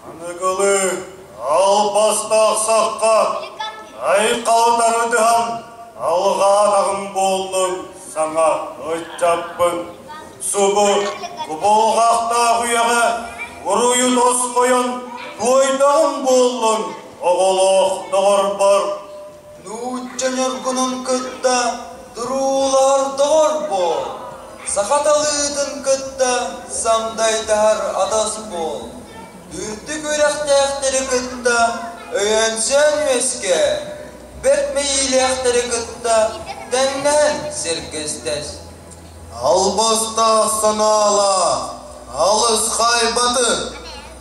Аныгылыы албастаахсахха айылҕаҕын арыдыһан алҕаатаҕым буоллун саҥа ыччаппын субу кубулҕахтаах үйэҕэ уруйун осхойон туойдаҕым буоллун оҕолоох доҕорбор Нуучча ньургунун кытта туруулаһар доҕорбоор, саха талыытын кытта самдайдаһар атас буол, үрдүк үрэхтээхтэри кытта өйөнсөн үөскээ, бэрт мэйиилээхтэри кытта тэҥнэһэн сэргэстэс. Албастаах санаалаах, алыс хайбатык!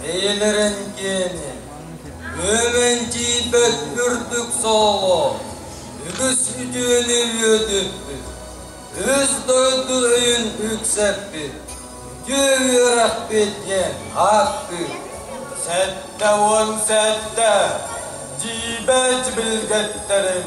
Билирин киэни, Үөмэнчийбэт үрдүк сооло, Үгүс үтүөнү үөдүппүт, Үс дойду өйүн үксэппит, Үтүө үөрэхпит диэн ааттыыр. Сэттэ уон сэттэ, дьиибэч билгэттэрим,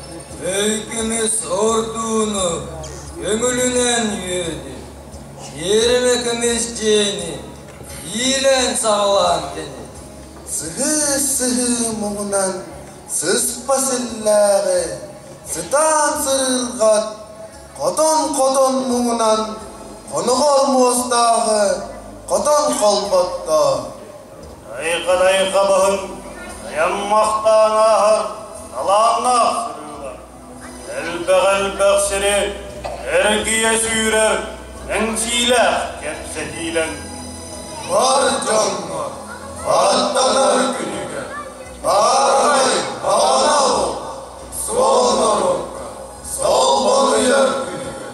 Өйгүмүс ордууну көҥүлүнэн үөдү, Тиэрэмэ көмүс дьиэни иилээн-саҕалаан кэни. Сыһыы-сыһыы муҥунан сыспас иллээҕи, Сытаан сырыырҕат хотон-хотон муҥунан, Хоноҕор муостааҕы хотон холботтоо. Айха-лайха баһын айан махтаан ааһар талааннаах сырыылар. Элбэх-элбэх сири эргийэ сүүрэр мэҥсиилээх кэпсэтиилэн. Бар дьоҥҥо аттанар күнүгэр баарай маҕан ал суол норуокка солбонуйар күнүгэр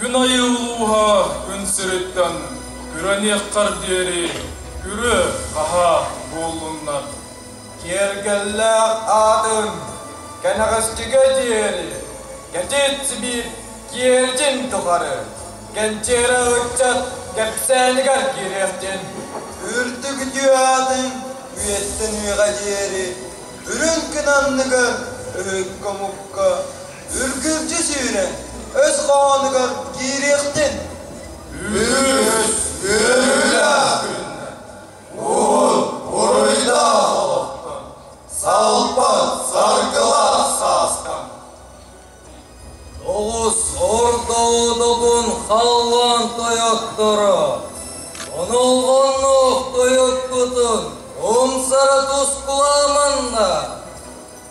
Күн айы улууһа күн сириттэн күрэниэххэр диэри күрүө-хаһаа буоллуннар. Киэргэллээх аатын кэнэҕэсчигэ диэри кэтит Сибиир киэрдьин тухары кэнчээрэ ыччат кэпсээнигэр киириэхтин. Үрдүк үтүө аатын үйэттэн үйэҕэ диэри үрүҥ күн анныгар өһүн-хомукка Үргүлдьү сүүрэн өс хоһоонугар киириэхтин! Үһүс-үһүлэ Уут буруйдаах Салпат саргылаах саастан Тоҕус орто одотун халлаан тойотторо Онолҕонноох тойотпутун умсара тус буламанна